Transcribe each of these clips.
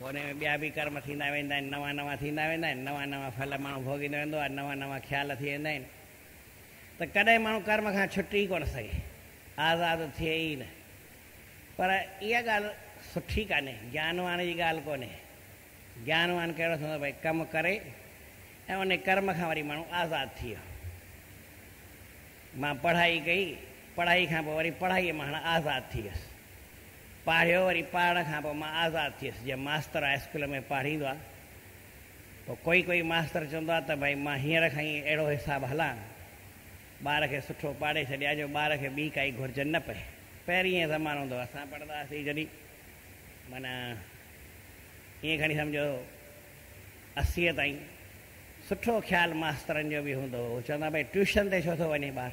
هونئن ۾ ٻيا به ڪرم ٿيندا ويندا آهن، نوان نوان ٿيندا ويندا آهن، نوان نوان ڦل ماڻهو ڀوڳيندو ويندو آهي، نوان نوان خيال ٿي ويندا آهن ته ڪڏهن ماڻهو ڪرم کان ڇٽي ئي ڪونه سگهي، آزاد ٿئي ئي نه. پر اها ڳالهه سٺي ڪانهي، گيانوان جي ڳالهه ڪونهي. گيانوان ڪهڙو ٿيندو ڀئي ڪم ڪري ۽ انهي ڪرم کان وري ماڻهو آزاد ٿئي ويو. مان پڙهائي ڪئي، پڙهائي کان پوء وري پڙهائي مان هاڻ آزاد ٿي ويس. پاڙهيو وري پاڙهڻ کان پوء مان آزاد ٿيس جيئن ماستر هاء اسڪول ۾ پاڙهيندو آ پوء ڪوئي ڪوئي ماستر چوندو آ ته ڀائي مان هينئر کان ئي اهڙو حساب هلان ٻار کي سٺو پاڙهي ڇڏيان جو ٻار کي ٻي ڪائي گهرجن نه پئي پهرين ائين زمانو هوندو اسان پڙهندا هئاسين جڏهن معنيٰ ائين کڻي سمجهو اسيء تائين سٺو خيال ماسترن جو به هوندو هو چوندا ڀائي ٽيوشن تي ڇو ٿو وڃي ٻار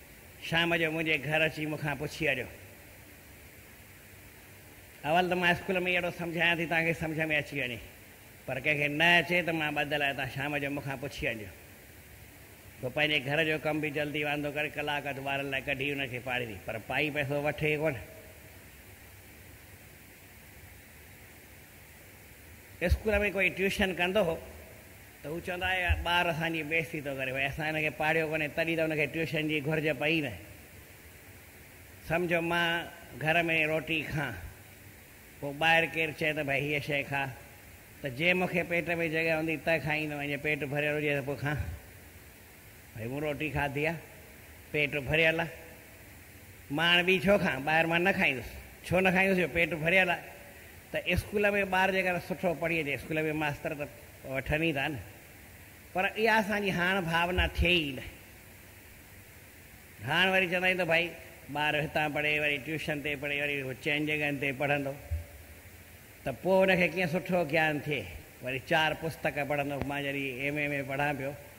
شام جو منهنجي گهر اچي مون کان پڇي اڙيو. اول ته مان اسڪول ۾ ئي اهڙو سمجهايان ٿي توهان کي سمجهه ۾ اچي وڃي. پر ڪنهن کي نه اچي ته مان ٻڌل آهي توهان شام جو مون کان پڇي اڙيو. سو پنهنجي گهر جو ڪم به جلدي واندو ڪري ڪلاڪ اڌ ٻارن لاء ڪڍي انهن کي پاڙهيندي. پر پائي پئسو وٺي ڪونه. اسڪول ۾ ڪوئي ٽيوشن ڪندو هو ته هو چوندا هئا اهو ٻار اسان جي بيعزتي ٿو ڪري، ڀئي اسان هن کي پاڙهيو ڪونهي تڏهن ته هن کي ٽيوشن جي گهرج پئي نه. سمجهو مان گهر ۾ روٽي کان پوء ٻاهر ڪير چئي ته ڀئي هيء شيء کاء ته جي مون کي پيٽ ۾ جڳهه هوندي ته کائيندم ۽ جي پيٽ ڀريل هجي ته پوء کان. ڀئي مون روٽي کاڌي آ، پيٽ ڀريل آ، مان هاڻي ٻي ڇو کان، ٻاهر مان نه کائيندس، ڇو نه کائيندس جو پيٽ ڀريل آ، ته اسڪول ۾ ٻار جيڪر سٺو پڙهي اچي اسڪول ۾ ماستر ته وٺن ئي ٿا نه، پر اها اسان جي هاڻ ڀاونا ٿئي ئي نه، هاڻ وري چوندا آهيون ته ڀائي ٻار هتان پڙهي وري ٽيوشن تي پڙهي وري چئن جڳهن تي پڙهندو ته پوء ان کي ڪيئن سٺو گيان ٿئي، وري چار پستڪ پڙهندو، مان جڏهن ايم اي ۾ پڙهان پيو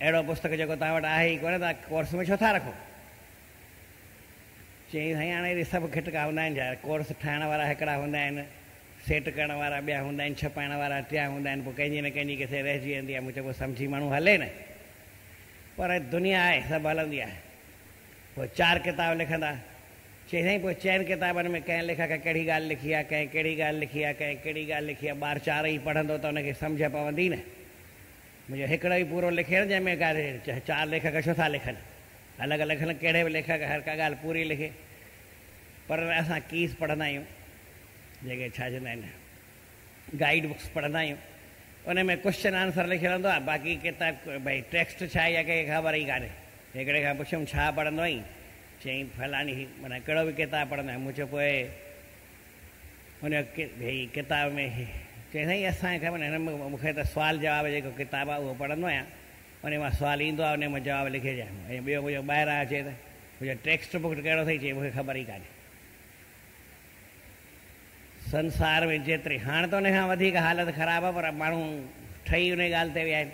اهڙو پستڪ جيڪو توهان وٽ آهي ئي ڪونه توهان ڪورس ۾ ڇو ٿا رکو؟ چيائين سائين هاڻي اهڙي سڀ گهٽڪا هوندا آهن ڇا؟ ڪورس ٺاهڻ وارا هڪڙا هوندا آهن، سيٽ ڪرڻ وارا ٻيا هوندا آهن، ڇپائڻ وارا ٽيا هوندا آهن، پوء ڪنهن جي نه ڪنهن جي ڪٿي رهجي ويندي آهي، مون چيو سمجهي ماڻهو هلي نه پر دنيا آهي سڀ هلندي آهي، پوء چار ڪتاب لکندا، چيائين سائين پوء چئن ڪتابن ۾ ڪنهن ليکڪ ڪهڙي ڳالهه لکي آهي، ڪنهن ڪهڙي ڳالهه لکي آهي، ڪنهن ڪهڙي ڳالهه لکي آهي، ٻار چارئي پڙهندو ته ان کي سمجهه پوندي نه. منهنجو هڪڙو ئي پورو لکيل جنهن ۾ ڪا چار ليکڪ ڇو ٿا لکن الڳ الڳ لکن ڪهڙي به ليکڪ هر ڪا ڳالهه پوري لکي پر اسان ڪيس پڙهندا آهيون جيڪي ڇا چوندا آهن گائيڊ بڪس پڙهندا آهيون ان ۾ ڪوشچن آنسر لکيل هوندو آهي باقي ڪتاب ڀئي ٽيڪسٽ ڇا اها ڪنهن کي خبر ئي ڪانهي هڪڙي کان پڇيم ڇا پڙهندو آهين چيائين فلاڻي معنيٰ ڪهڙو به ڪتاب پڙهندو آهيان مون چيو پوء هن ڪتاب ۾ چيو سائين اسان کي خبر نه مون کي ته سوال جواب جيڪو ڪتاب آهي اهو پڙهندو آهيان ان مان سوال ايندو آهي ان مان جواب لکي ڏيان ۽ ٻيو مون ٻاهران اچي ته مون ٽيڪسٽ بڪ ڪهڙو سائين چي مون کي خبر ئي ڪانهي سنسار ۾ جيتري هاڻ ته ان کان وڌيڪ حالت خراب آهي پر ماڻهو ٺهي ان ڳالهه تي ويا آهن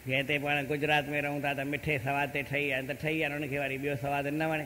جنهن تي پاڻ گجرات ۾ رهون ٿا ته مٺي سواد تي ٺهي آهن ته ٺهي آهن ان کي واري ٻيو سواد نه وڻي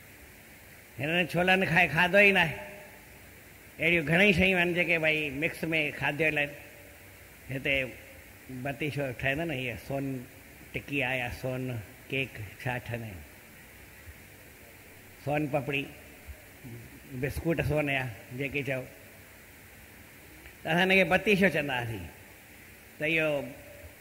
هنن ڇولن کائي کاڌو ئي ناهي. اهڙيون گهڻئي شيون آهن جيڪي ڀائي مڪس ۾ کاڌيل آهن. هتي بتيشو ٺهندو نه هيء سون ٽڪي آهي يا سون ڪيڪ ڇا ٺهندا آهن. سون پپڙي، بسڪوٽ سون يا جيڪي چئو. ته اسان هن کي بتيشو چوندا هئاسين. ته اهو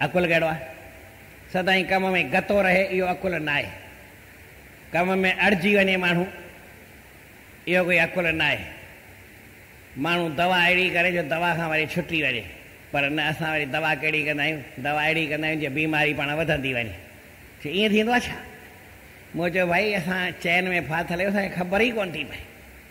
عقل ڪهڙو آهي؟ سدائين ڪم ۾ گتو رهي اهو عقل ناهي. ڪم ۾ اڙجي وڃي ماڻهو اهو ڪوئي عقل ناهي. ماڻهو دوا اهڙي ڪري جو دوا کان وري ڇٽي وڃي پر نه اسان وري دوا ڪهڙي ڪندا آهيون دوا اهڙي ڪندا آهيون جيئن بيماري پاڻ وڌندي وڃي. چي ائين ٿيندو آهي ڇا؟ مون چيو ڀائي اسان چين ۾ ڦاٿل آهيون اسان کي خبر ئي ڪونه ٿي پئي.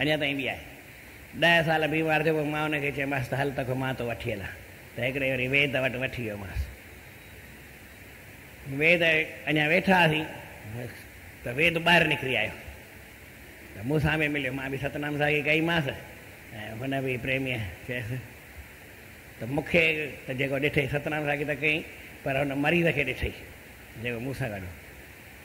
اڃا تائين بي آهي. ڏهه سال بيمار ٿيو پوء مان ان کي چيومانس ته هل توکي مان ٿو وٺي هلان ته هڪڙي وري ويد وٽ وٺي ويومانس. ويد اڃا ويٺا هئاسين ته ويد ٻاهر نڪري آيو ته مون سان به مليو مان به ستنام ساڳي ڪئيمانس ۽ هن به پريميء چيس ته مون کي ته جيڪو ڏٺئي ستنام ساڳي ته ڪئين پر هن مريض کي ڏٺئي جيڪو مون سان گڏ هو.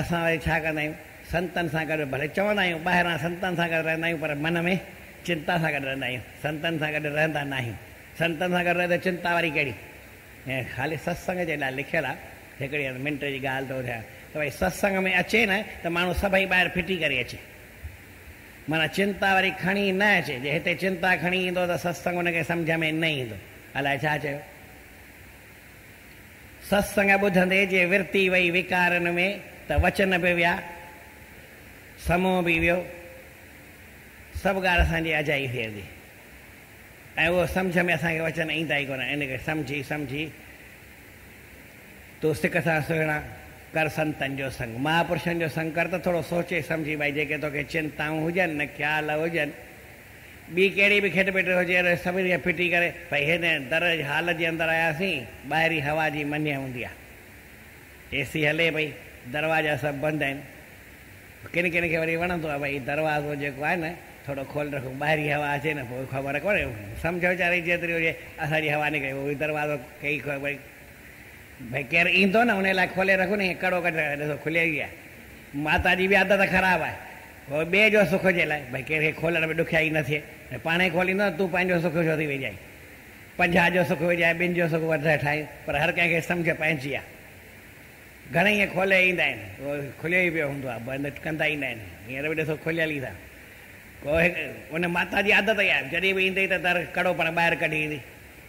اسان وري ڇا ڪندا آهيون سنتن سان گڏ ڀلي چوندا آهيون ٻاهران سنتن سان گڏ رهندا آهيون پر من ۾ چنتا سان گڏ رهندا آهيون سنتن سان گڏ رهندا ناهيون سنتن سان گڏ رهي ته چنتا وري ڪهڙي هي خالي ستسنگ جي لاء لکيل آهي هڪڙي هن منٽ جي ڳالهه ٿو ٻڌايان ته ڀاء ستسنگ ۾ اچي نه ته ماڻهو سڀئي ٻاهر ڦٽي ڪري اچي معنيٰ چنتا وري کڻي نه اچي جي هتي چنتا کڻي ايندو ته ستسنگ ان کي سمجهه ۾ نه ايندو الاء ڇا چيو ستسنگ ٻڌندي جي ورتي وئي وڪارن ۾ ته وچن به ويا، سمو به ويو، سڀ ڳالهه اسان جي اجائي ڦيرجي ۽ اهو سمجهه ۾ اسان کي وچن ايندا ئي ڪونه، ان کي سمجهي سمجهي تون سڪ سان سهڻا ڪر سنتن جو سنگ، مهاپرشن جو سنگ ڪر ته ٿورو سوچي سمجهي ڀائي جيڪي توکي چنتائون هجن نه خيال هجن ٻي ڪهڙي به کٽ پٽ هجي ته سڀني کي ڦٽي ڪري ڀئي هن در جي هال جي اندر آياسين. ٻاهرين هوا جي منهن هوندي آهي. اي سي هلي پئي. دروازا سڀ بند آهن. ڪن ڪن کي وري وڻندو آهي ڀئي دروازو جيڪو آهي نه ٿورو کولي رکون ٻاهرين هوا اچي نه پوء خبر ڪونهي سمجهه ويچاري جيتري هجي اسان جي هوا نڪري اهو دروازو ڪئي ڀئي ڀئي ڪير ايندو نه ان لاء کولي رکون ائين ڪڙو ڪڍ ڏسو کليل ئي آهي. ماتا جي به عادت خراب آهي. پوء ٻئي جو سک جي لاء ڀئي ڪير کي کولڻ ۾ ڏکيائي نه ٿئي ۽ پاڻ ئي کوليندو ته تون پنهنجو سک ڇو ٿي ويجهائين. پنجاهه جو سک ويجهائي ٻن جو سک وڌائي ٺاهين پر هر ڪنهن کي سمجهه پنهنجي آ. گهڻي ائين کولي ايندا آهن اهو کليو ئي پيو هوندو آ بند ڪندا ئي نه آهن هينئر به ڏسو کليل ئي ٿا ڪو هڪ ان ماتا جي عادت ئي آ جڏهن به ايندي ته در ڪڙو پاڻ ٻاهر ڪڍي ايندي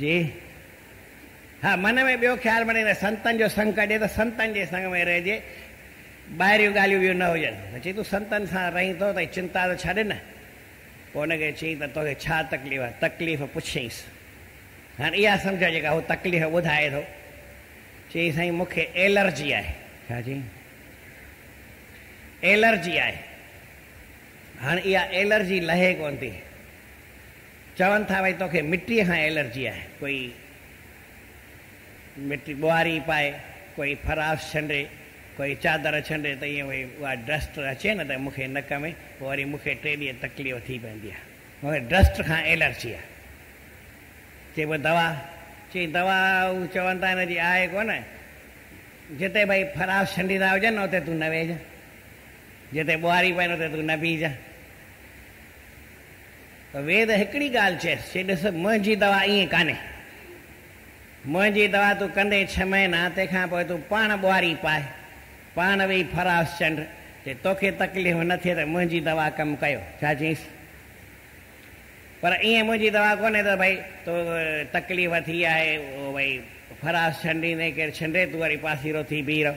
جي ها من ۾ ٻيو خيال بڻي ته سنتن جو سنگ ڪجي ته سنتن جي سنگ ۾ رهجي ٻاهريون ڳالهيون ٻيون نه هجن ته چي تون سنتن سان رهين ٿو ته چنتا ته ڇڏ نه پوء ان کي چي ته توکي ڇا تڪليف آهي تڪليف پڇيس هاڻ اها سمجهه جيڪا هو تڪليف ٻڌائي ٿو چي سائين مون کي ايلرجي آهي ڇا چي ايلرجي آهي هاڻ اها ايلرجي لهي ڪون ٿي چون ٿا ڀئي توکي مٽيء کان ايلرجي آهي. ڪوئي مٽي ٻوهاري پائي، ڪوئي فراش ڇنڊي، ڪوئي چادر ڇنڊي ته ائين ڀئي اها ڊسٽ اچي نه ته مون کي نڪ ۾ پوء وري مون کي ٽي ڏينهن تڪليف ٿي پوندي آهي. مون کي ڊسٽ کان ايلرجي آهي. چئبو دوا؟ چئي دوا هو چون ٿا هن جي آهي ڪونه. جتي ڀئي فراش ڇنڊيندا هجن نه اتي تون نه ويهجان. جتي ٻوهاري پائين اتي تون نه بيهجان. ويد هڪڙي ڳالهه چيس، چي ڏس منهنجي دوا ائين ڪانهي، منهنجي دوا تون ڪندي ڇهه مهينا، تنهن کان پوء تون پاڻ ٻوهاري پاء، پاڻ ويهي ڦراس چنڊ، جي توکي تڪليف نه ٿئي ته منهنجي دوا ڪم ڪيو. ڇا چيس؟ پر ائين منهنجي دوا ڪونهي ته ڀئي تو تڪليف ٿي آهي، ڀئي ڦراس ڇنڊيندين، ڪير ڇنڊي تون وري پاسيرو ٿي بيهي رهه.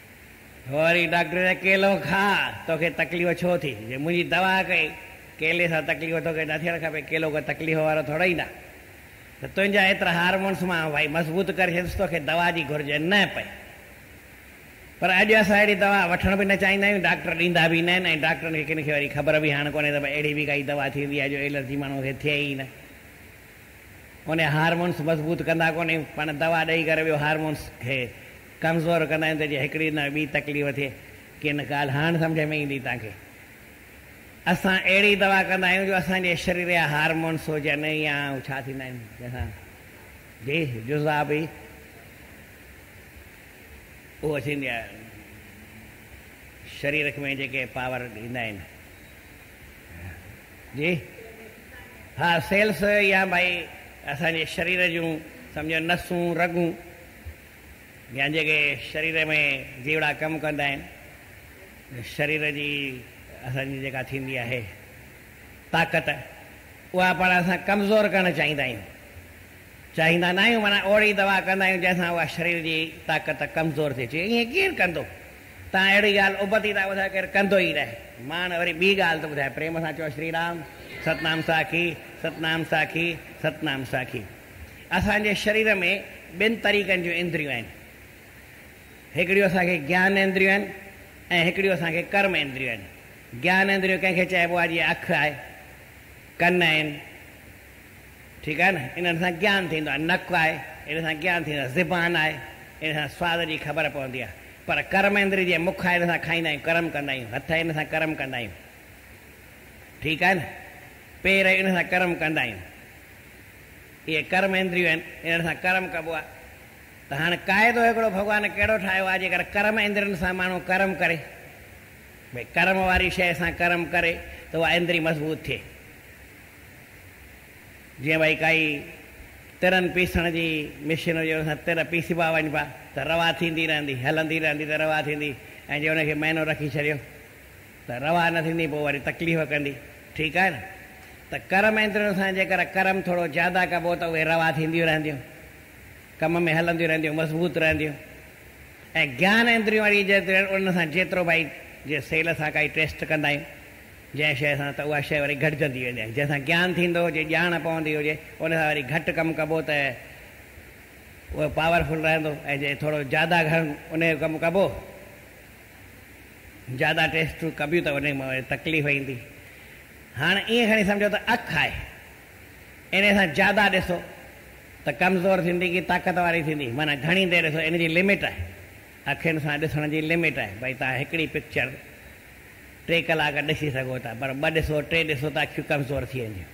وري ڊاڪٽر چيو ڪيلو کاء، توکي تڪليف ڇو ٿي؟ جي منهنجي دوا ڪئي، ڪيلي سان تڪليف توکي نه ٿيڻ کپي، ڪيلو ڪو تڪليف وارو ٿورئي نه ته تنهنجا ايترا هارمونس مان ڀائي مضبوط ڪري ڇڏيندس، توکي دوا جي گهرج نه پئي. پر اڄ اسان اهڙي دوا وٺڻ به نه چاهيندا آهيون، ڊاڪٽر ڏيندا به نه آهن ۽ ڊاڪٽرن کي ڪن کي وري خبر به هاڻ ڪونهي ته ڀائي اهڙي به ڪائي دوا ٿيندي آهي جو ايلرجي ماڻهوء کي ٿئي ئي نه. اونهي هارمونس مضبوط ڪندا ڪونهي، پاڻ دوا ڏئي ڪري ٻيو هارمونس کي ڪمزور ڪندا آهن ته جي هڪڙي نه ٻي تڪليف ٿئي. ڪن ڳالهه هاڻ سمجهه ۾ ايندي توهان کي. اسان اهڙي دوا ڪندا آهيون جو اسان جي شرير جا هارمونس هجن يا هو ڇا ٿيندا آهن جنهن سان جي جذابي اهو ٿيندي آهي شرير ۾ جيڪي پاور ڏيندا آهن جي ها سيلس يا ڀائي اسان جي شرير جون سمجهو نسون رڳون يا جيڪي شرير ۾ جيوڙا ڪم ڪندا آهن، شرير جي اسان جي جيڪا ٿيندي آهي طاقت اها پاڻ اسان ڪمزور ڪرڻ چاهيندا آهيون، چاهيندا ناهيون معنيٰ اوڙي دوا ڪندا آهيون جنهن سان اها شرير جي طاقت ڪمزور ٿي اچي ائين ڪير ڪندو تان اهڙي ڳالهه ابتي ٿا ٻڌايو ڪير ڪندو ئي ناهي ماڻ وري ٻي ڳالهه ٿو ٻڌايو پريم سان چئو شري رام ستنام ساکي ستنام ساکي ستنام ساکي. اسان جي شرير ۾ ٻن طريقن جون اندريون آهن. هڪڙيون اسان کي گيان اندريون آهن ۽ هڪڙيون اسان کي ڪرم اندريون آهن. گيان اندريون ڪنهن کي چئبو آهي جيئن اک آهي، ڪن آهن، ٺيڪ آهي نه، انهن سان گيان ٿيندو آهي، نڪ آهي، ان سان گيان ٿيندو آهي، زبان آهي، ان سان سواد جي خبر پوندي آهي. پر ڪرم اندري جيئن مک آهي ان سان کائيندا آهيون، ڪرم ڪندا آهيون، هٿ آهن ان سان ڪرم ڪندا آهيون، ٺيڪ آهي نه، پير آهن ان سان ڪرم ڪندا آهيون. اهي ڪرم اندريون آهن، انهن سان ڪرم ڪبو آهي ته هاڻ قاعدو هڪڙو ڀڳوان ڪهڙو ٺاهيو آهي جيڪر ڪرم اندرين سان ماڻهو ڪرم ڪري ڀئي ڪرم واري شيء سان ڪرم ڪري ته اها اندري مضبوط ٿئي جيئن ڀئي ڪائي ترن پيسڻ جي مشين هجي ان سان تر پيسبا وڃبا ته روا ٿيندي رهندي هلندي رهندي ته روا ٿيندي ۽ جي ان کي مهينو رکي ڇڏيو ته روا نه ٿيندي پوء وري تڪليف ڪندي ٺيڪ آهي نه ته ڪرم ايندرين سان جيڪر ڪرم ٿورو زياده ڪبو ته اهي روا ٿينديون رهنديون ڪم ۾ هلنديون رهنديون مضبوط رهنديون ۽ گيان ايندريون واري جيترين انهن سان جيترو ڀائي جي سيل سان ڪائي ٽيسٽ ڪندا آهيون جنهن شيء سان ته اها شيء وري گهٽجندي ويندي آهي جنهن سان گيان ٿيندو هجي ڄاڻ پوندي هجي ان سان وري گهٽ ڪم ڪبو ته اهو پاورفل رهندو ۽ جي ٿورو زياده گهڻ ان جو ڪم ڪبو زياده ٽيسٽ تون ڪبيون ته انهي مان وري تڪليف ايندي. هاڻ ائين کڻي سمجهو ته اک آهي. انهي سان زياده ڏسو ته ڪمزور ٿيندي ڪي طاقت واري ٿيندي. معنيٰ گهڻي دير ڏسو ان جي لمٽ آهي. اکين سان ڏسڻ جي لمٽ آهي. ڀئي توهان هڪڙي پڪچر ٽي ڪلاڪ ڏسي سگهو ٿا پر ٻه ڏسو ٽي ڏسو ته اکيون ڪمزور ٿي وينديون.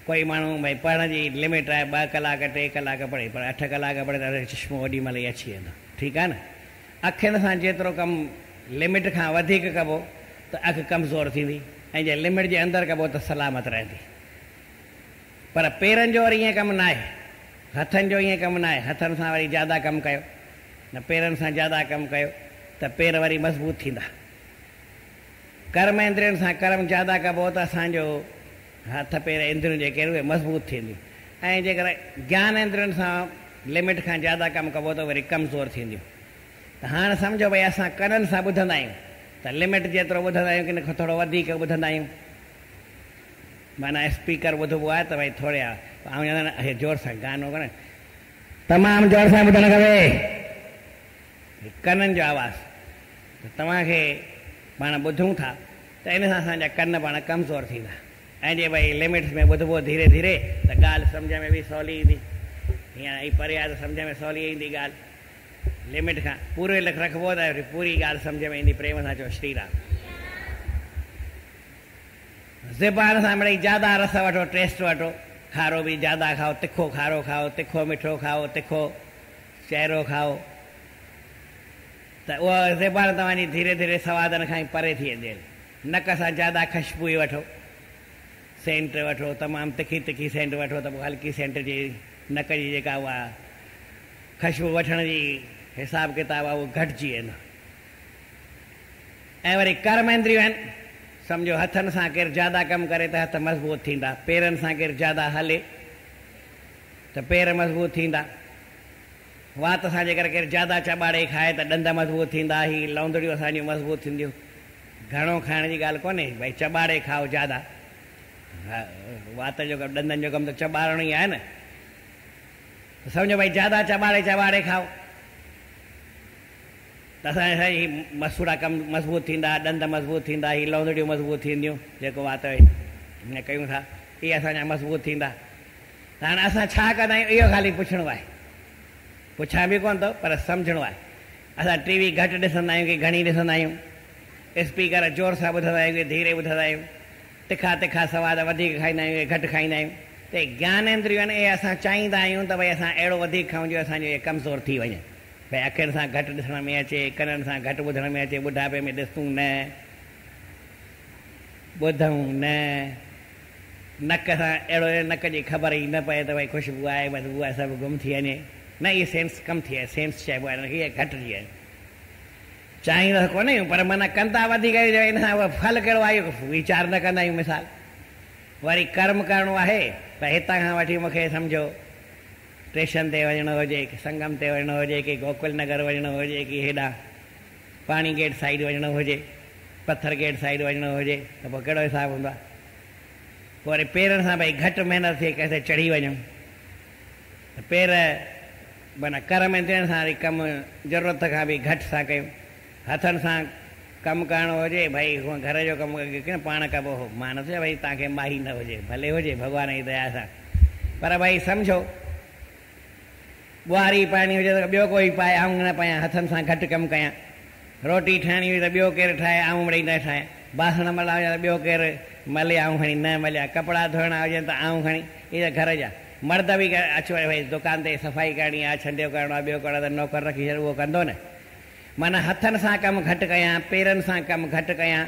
ڪوئي ماڻهو ڀئي پڙهڻ جي لمٽ آهي ٻه ڪلاڪ ٽي ڪلاڪ پڙهي پر اٺ ڪلاڪ پڙهي ته چشمو اوڏي مهل ئي اچي ويندو. ٺيڪ آهي نه. اکين سان جيترو ڪم لمٽ کان وڌيڪ ڪبو ته اک ڪمزور ٿيندي ۽ جي لمٽ جي اندر ڪبو ته سلامت رهندي. پر پيرن جو وري ائين ڪم ناهي. هٿن جو ائين ڪم ناهي. هٿن سان وري زياده ڪم ڪيو نه پيرن سان زياده ڪم ڪيو ته پير وري مضبوط ٿيندا. ڪرم اندرين سان ڪرم زياده ڪبو ته اسان جو هٿ پير اندريون جيڪي آهن اهي مضبوط ٿينديون ۽ جيڪر گيان اندرين سان لمٽ کان زياده ڪم ڪبو ته وري ڪمزور ٿينديون ته هاڻ سمجهو ڀئي اسان ڪنن سان ٻڌندا آهيون ته لمٽ جيترو ٻڌندا آهيون ڪن کان ٿورو وڌيڪ ٻڌندا آهيون معنيٰ اسپيڪر ٻڌبو آهي ته ڀئي ٿوري آهي زور سان گانو ڪن تمام زور سان ٻڌڻ کپي ڪنن جو آواز ته توهان کي پاڻ ٻڌون ٿا ته ان سان اسان جا ڪن پاڻ ڪمزور ٿيندا ۽ جي ڀئي لمٽس ۾ ٻڌبو ڌيري ڌيري ته ڳالهه سمجهه ۾ به سولي ايندي هينئر اهي پري آهي ته سمجهه ۾ سولي ايندي ڳالهه لمٽ کان پوري لک رکبو ته پوري ڳالهه سمجهه ۾ ايندي پريم سان چئو شري رام زبان سان مڙئي جيادا رس وٺو ٽيسٽ وٺو کارو به جيادا کائو تکو کارو کائو تکو مٺو کائو تکو چهرو کائو ته اهو زيبارن توهان جي ڌيري ڌيري سوادن کان ئي پري ٿي ويندي. نڪ سان جياده خشبوئي وٺو، سينٽ وٺو، تمام تکي تکي سينٽ وٺو ته پوء هلڪي سينٽ جي نڪ جي جيڪا اها خشبو وٺڻ جي حساب ڪتاب آهي اهو گهٽجي ويندو. ۽ وري ڪرم اندريون آهن، سمجهو هٿن سان ڪير جياده ڪم ڪري ته هٿ مضبوط ٿيندا، پيرن سان ڪير جياده هلي ته پير مضبوط ٿيندا. وات سان جيڪر ڪير زياده چٻاڙي کائي ته ڏند مضبوط ٿيندا، هي لوندڙيون اسان جون مضبوط ٿينديون. گهڻو کائڻ جي ڳالهه ڪونهي، ڀئي چٻاڙي کائو زياده. وات جو ڪم، ڏندن جو ڪم ته چٻاڙڻ ئي آهي نه. ته سمجهو ڀئي زياده چٻاڙي چٻاڙي کائو ته اسان جا هي مسوڙا ڪم مضبوط ٿيندا، ڏند مضبوط ٿيندا، هي لوندڙيون مضبوط ٿينديون، جيڪو وات ۾ ڪيون ٿا، اهي اسان جا مضبوط ٿيندا. ته هاڻي اسان ڇا ڪندا آهيون اهو خالي پڇڻو آهي. پڇان به ڪونه ٿو پر سمجهڻو آهي. اسان ٽي وي گهٽ ڏسندا آهيون ڪي گهڻي ڏسندا آهيون. اسپيڪر زور سان ٻڌندا آهيون ڪي ڌيري ٻڌندا آهيون. تکا تکا سواد وڌيڪ کائيندا آهيون ڪي گهٽ کائيندا آهيون. ته اهي گيانيندريون آهن اهي اسان چاهيندا آهيون ته ڀئي اسان اهڙو وڌيڪ کائون جو اسان جون اهي ڪمزور ٿي وڃن. ڀئي اکين سان گهٽ ڏسڻ ۾ اچي، ڪنن سان گهٽ ٻڌڻ ۾ اچي، ٻڍاپي ۾ ڏسون نه، ٻڌون نه، نڪ سان اهڙو جو نڪ جي خبر ئي نه پئي ته ڀئي خوشبو آهي بدبو آهي سڀ گم ٿي وڃي نه هي سينس ڪم ٿئي سينس چئبو آهي هن کي اها گهٽ ٿي وڃي چاهيندا ته ڪونه آهيون پر معنيٰ ڪندا وڌيڪ آهيون جو ان سان اهو ڦل ڪهڙو آهي اهو ويچار نه ڪندا آهيون مثال وري ڪرم ڪرڻو آهي ته هتان کان وٺي مون کي سمجهو ٽيشن تي وڃڻو هجي ڪي سنگم تي وڃڻو هجي ڪي گوڪل نگر وڃڻو هجي ڪي هيڏانهن پاڻي گيٽ سائيڊ وڃڻو هجي، پٿر گيٽ سائيڊ وڃڻو هجي ته پوء ڪهڙو حساب هوندو آهي؟ پوء وري پيرن سان ڀئي گهٽ محنت ٿئي ڪنهن تي چڙهي وڃون ته پير معنيٰ ڪر ۾ ڏيڻ سان وري ڪم ضرورت کان به گهٽ ٿا ڪيون. هٿن سان ڪم ڪرڻو هجي ڀئي هونء گهر جو ڪم ڪيئن پاڻ ڪبو هو، مان نه ٿو چوان ڀئي توهان کي ماهي نه هجي، ڀلي هجي ڀڳوان جي ديا سان پر ڀئي سمجهو. ٻهاري پائڻي هجي ته ٻيو ڪوئي پائي، آئون نه پايان، هٿن سان گهٽ ڪم ڪيان. روٽي ٺاهڻي هجي ته ٻيو ڪير ٺاهي، آئون مڙئي نه ٺاهيان. باسڻ ملڻا هجن ته ٻيو ڪير ملي، آئون کڻي نه مليان. ڪپڙا ڌوئڻا هجن ته آئون کڻي، هي ته گهر جا مرد به اچ وڃ ڀئي، دڪان تي صفائي ڪرڻي آ، ڇنڊيو ڪرڻو آ، ٻيو ڪرڻو آ ته نوڪر رکي ڇڏ، اهو ڪندو نه. معنيٰ هٿن سان ڪم گهٽ ڪيان، پيرن سان ڪم گهٽ ڪيان،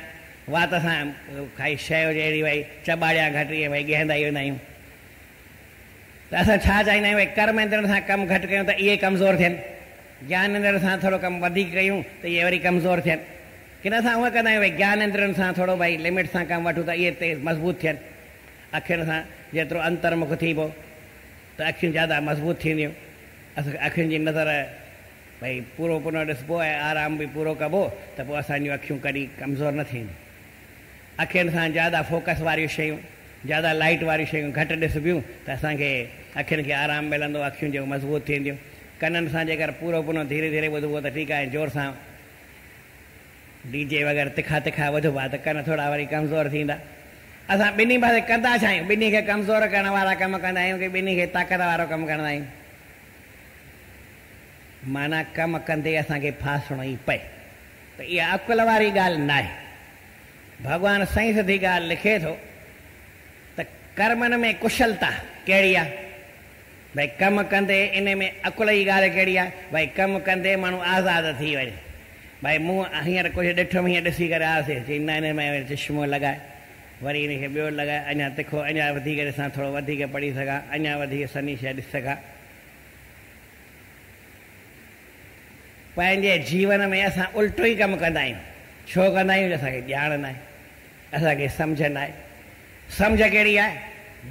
وات سان ڪائي شيء هجي اهڙي ڀئي چٻاڙيان گهٽ، ائين ڀئي ڳهندا ئي ويندا آهيون. ته اسان ڇا چاهيندا آهيون ۽ ڪرم اندڙن سان ڪم گهٽ ڪيون ته اهي ڪمزور ٿين، گيان اندڙن سان ٿورو ڪم وڌيڪ ڪيون ته اهي وري ڪمزور ٿين، ڪنه اسان هونء ڪندا آهيون ته گيان اندڙن سان ٿورو ڀائي لمٽ سان ڪم وٺون ته اهي تيز مضبوط ٿين. اکين سان جيترو انترمک ٿيبو ته اکيون زياده مضبوط ٿينديون. اسان اکين جي نظر ڀائي پورو پنو ڏسبو ۽ آرام به پورو ڪبو ته پوء اسان جون اکيون ڪڏهن ڪمزور نه ٿينديون. اکين سان زياده فوڪس واريون شيون، زياده لائيٽ واريون شيون گهٽ ڏسبيون ته اسان کي اکين کي آرام ملندو، اکيون جيڪو مضبوط ٿينديون. ڪنن سان جيڪر پورو پنو ڌيري ڌيري ٻڌبو ته ٺيڪ آهي، زور سان ڊي جي وغيره تکا تکا ٻڌبا ته ڪن ٿورا وري ڪمزور ٿيندا. اسان ٻنهي پاسي ڪندا ڇا آهيون؟ ٻنهي کي ڪمزور ڪرڻ وارا ڪم ڪندا آهيون ڪي ٻنهي کي طاقت وارو ڪم ڪندا آهيون؟ معنيٰ ڪم ڪندي اسان کي ڦاسڻو ئي پئي. ته اها عقل واري ڳالهه ناهي. ڀڳوان سائين سڌي ڳالهه لکي ٿو ته ڪرمن ۾ ڪشلتا ڪهڙي آهي؟ ڀئي ڪم ڪندي ان ۾ عقل جي ڳالهه ڪهڙي آهي؟ ڀئي ڪم ڪندي ماڻهو آزاد ٿي وڃي. ڀئي مون هينئر ڪجهه ڏٺم هيئن ڏسي ڪري آسي چئي نه ان ۾ چشمو لڳائي وري ان کي ٻيو لڳائي اڃا تکو اڃا وڌيڪ ڏسان ٿورو وڌيڪ پڙهي سگهان اڃا وڌيڪ سنهي شيء ڏسي سگهان. پنهنجي جيون ۾ اسان الٽو ئي ڪم ڪندا آهيون، ڇو ڪندا آهيون جو اسان کي ڄاڻ ناهي، اسان کي سمجهه ناهي، سمجهه ڪهڙي آهي،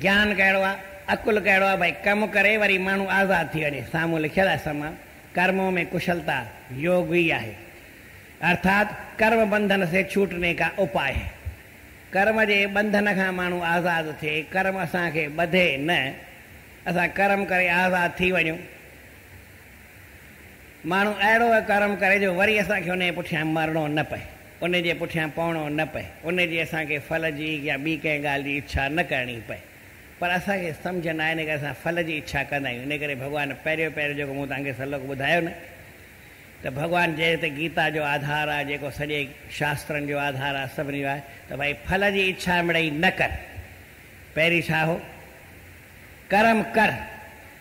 گيان ڪهڙو آهي، عقل ڪهڙو آهي، ڀئي ڪم ڪري وري ماڻهو آزاد ٿي وڃي، سامهون لکيل آهي سمم ڪرمون مين ڪشلتا يوگ ئي آهي ارٿات ڪرم بنڌن سي ڇوٽني ڪا اپاء هي، ڪرم جي بنڌن کان ماڻهو آزاد ٿئي، ڪرم اسان کي ٻڌي نه، اسان ڪرم ڪري آزاد ٿي وڃون، ماڻهو اهڙو ڪرم ڪري جو وري اسان کي ان جي پٺيان مرڻو نه پئي، ان جي پٺيان پوڻو نه پئي، ان جي اسان کي ڦل جي يا ٻي ڪنهن ڳالهه جي اڇا نه ڪرڻي پئي. پر اسان کي سمجهه ناهي ان ڪري اسان ڦل جي اڇا ڪندا آهيون. ان ڪري ڀڳوان پهريون پهريون جيڪو مون توهان کي سلوڪ ٻڌايو نه ته ڀڳوان جنهن تي گيتا جو آڌار آهي، جيڪو سڄي شاسترن جو آڌار آهي، سڀني جو آهي ته ڀائي ڦل جي اڇا مڙئي نه ڪر. پهرين ڇا هو؟ ڪرم ڪر.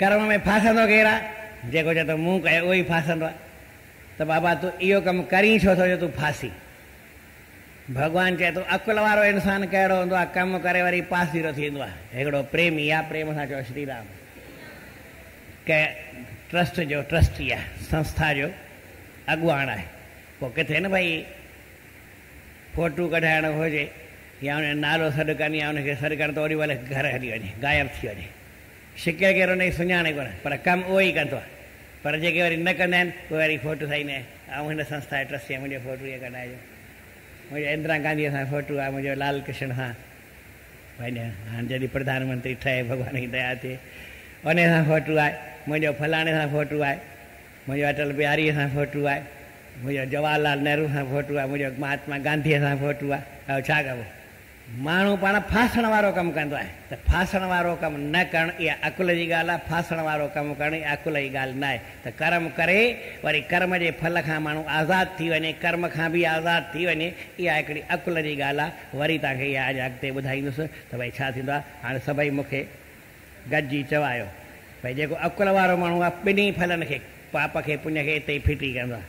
ڪرڻ ۾ ڦاسندو ڪير آ؟ جيڪو چئي ٿو مون ڪيو اهو ئي ڦاسندو آ ته بابا تون اهو ڪم ڪرين ڇو ٿو جو تون ڦاسين؟ ڀڳوان چئي ٿو عقل وارو انسان ڪهڙو هوندو آ ڪم ڪري وري پاسيرو ٿيندو آ. هڪڙو پريمي آ پريم سان چئو شري رام ڪنهن ٽرسٽ جو ٽرسٽي آ سنسٿا جو اڳواڻ آهي پوء ڪٿي نه ڀئي فوٽو ڪڍائڻ هجي يا ان جو نالو سڏ ڪن يا ان کي سڏ ڪن ته اوڏي مهل گهر هلي وڃي غائب ٿي وڃي شڪل ڪير ان جي سڃاڻي ڪونه پر ڪم اهو ئي ڪندو آهي پر جيڪي وري نه ڪندا آهن اهي وري فوٽو سائين نه آئون هن سنسٿا جو ٽرسٽي آهيان منهنجو فوٽو ايئن ڪڍرائجو منهنجو اندرا گانڌي سان فوٽو آهي منهنجو لال ڪرشن سان پنهنجو هاڻ جڏهن پرڌان منتري ٺهي ڀڳوان جي ديا ٿئي ان سان فوٽو آهي منهنجو فلاڻي سان فوٽو آهي منهنجو اٽل بهاري سان فوٽو آهي منهنجو جواهر لال نهرو سان فوٽو آهي منهنجو مهاتما گانڌي سان فوٽو آهي اهو ڇا ڪبو ماڻهو پاڻ ڦاسڻ وارو ڪم ڪندو آهي ته ڦاسڻ وارو ڪم نه ڪرڻ اها عقل جي ڳالهه آهي، ڦاسڻ وارو ڪم ڪرڻ اها عقل جي ڳالهه ناهي ته ڪرم ڪري وري ڪرم جي ڦل کان ماڻهو آزاد ٿي وڃي، ڪرم کان به آزاد ٿي وڃي اها هڪڙي عقل جي ڳالهه آهي، وري توهان کي اها اڃا اڳتي ٻڌائيندس ته ڀئي ڇا ٿيندو آهي، هاڻي سڀئي مون کي گڏجي چوايو ڀئي جيڪو عقل وارو ماڻهو آهي ٻنهي ڦلن کي پاپ کي پڃ کي اتي ئي ڦٽي ڪندو آهي.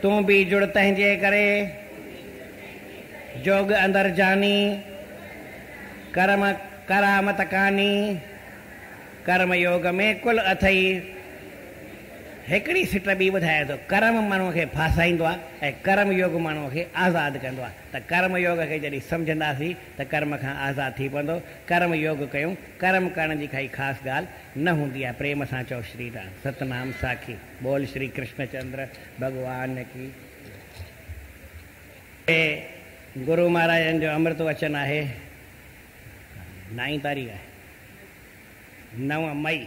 تون به جڙ تنهنجي ڪري، جوڳ اندر جاني، ڪرم ڪرامت ڪاني، ڪرم يوڳ ۾ ڪل اٿئي. هڪڙي سٽ ٻي ٻڌائي ٿو، ڪرم ماڻهوء کي ڦاسائيندو آهي ۽ ڪرم يوڳ ماڻهوء کي آزاد ڪندو آهي ته ڪرم يوڳ کي جڏهن سمجهنداسين ته ڪرم کان آزاد ٿي پوندو، ڪرم يوڳ ڪيون، ڪرم ڪرڻ جي ڪائي خاص ڳالهه نه هوندي آهي، پريم سان چئو شري رام، ستنام ساکي. بول شري ڪرشن چندر ڀڳوان ڪي جي گرو مھاراجن جو امرت وچن آھي نائين تاريخ آھي نو مئي.